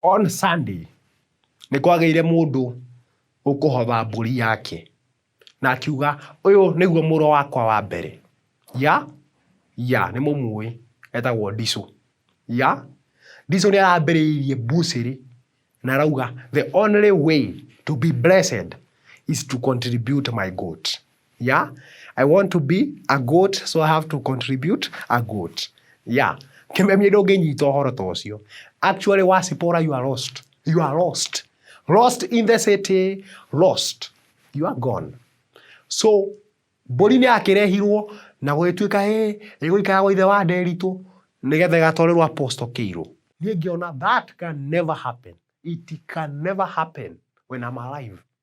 On Sunday nĩ kwagĩire mũndũ ũkũhotha mbũri yake na akiuga ũyũ nĩguo mũrũ wakwa wa mbere. Ya? Ya, nĩ mũmũĩ, etagwo Ndicũ. Ya? Ndicũ nĩ arambĩrĩirie mbucĩrĩ na arauga the only way to be blessed is to contribute my goat. yeah i want to be a goat so i have to contribute a goat yeah kimemie ndũngĩnyita ũhoro ta ũcio actually wacipora you are lost you are lost lost in the city lost you are gone so mbũri nĩ yakĩrehirwo na gũgĩtuĩka ĩ ĩgũikara gwa ithe wa nderitũ nĩgetha ĩgatwarĩrwo apostle kĩirũ niĩ ngĩona that can never happen it can never happen when I'm alive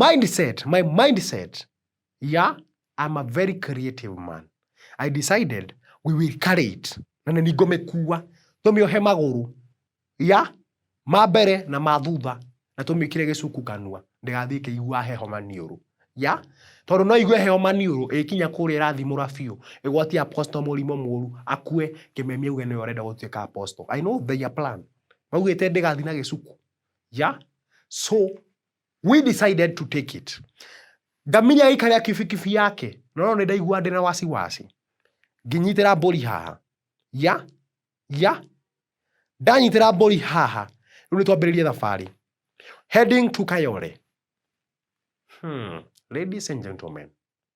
mindset my mindset ya I'm a very creative man I decided we will carry it na nĩ ngũmĩkua tũmĩohe magũrũ ya ma mbere na ma thutha na tũmĩkĩre gĩcuku kanua ndĩgathiĩ ĩkĩigua heho maniũrũ ya tondũ no igue heho maniũrũ ĩkinya kũrĩa ĩrathimũra biũ ĩgwatia apostle mũrimũ mũru akue kĩmemi auge nĩwe ũrenda gũtuĩka apostle I know their plan maugĩte ndĩgathiĩ na gĩcuku Yeah? So, we decided to take it. Ngamiri agĩikarĩra kibikibi yake. No nĩ ndaigua ndĩ na wasiwasi. Nginyitĩra mbũri haha. Yeah? Yeah? Ndanyitĩra mbũri haha. Rĩu nĩ twambĩrĩrie thabarĩ. Heading to Kayole. Hmm. Ladies and gentlemen,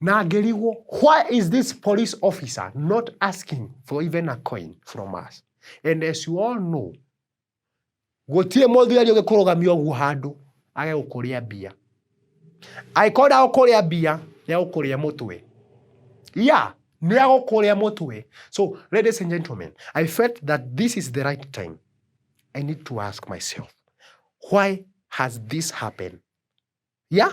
na ngĩrigwo why is this police officer not asking for even a coin from us and as you all know gũtirĩ mũthigari ũgĩkũrũgamia ũguo handũ age gũkũrĩa mbia angĩkorwo ndagũkũrĩa mbia nĩagũkũrĩa mũtwe yeah nĩagũkũrĩa mũtwe so ladies and gentlemen i felt that this is the right time i need to ask myself why has this happened yeah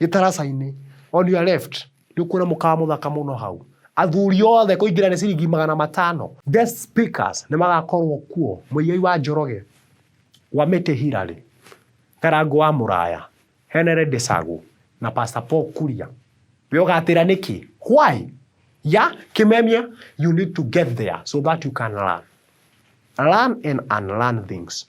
gĩtaraca-inĩ on your left nĩ ũkuona mũkawa mũthaka mũno hau athuri othe kũingĩra nĩ ciringi magana matano guest speakers nĩ magakorwo kuo mũigai wa njoroge wa mĩtĩ hirarĩ karango wa mũraya henere ndĩcagũ na pastor paul kuria we ũgatĩra nĩkĩ why ya kĩmemia you need to get there so that you can learn learn and unlearn things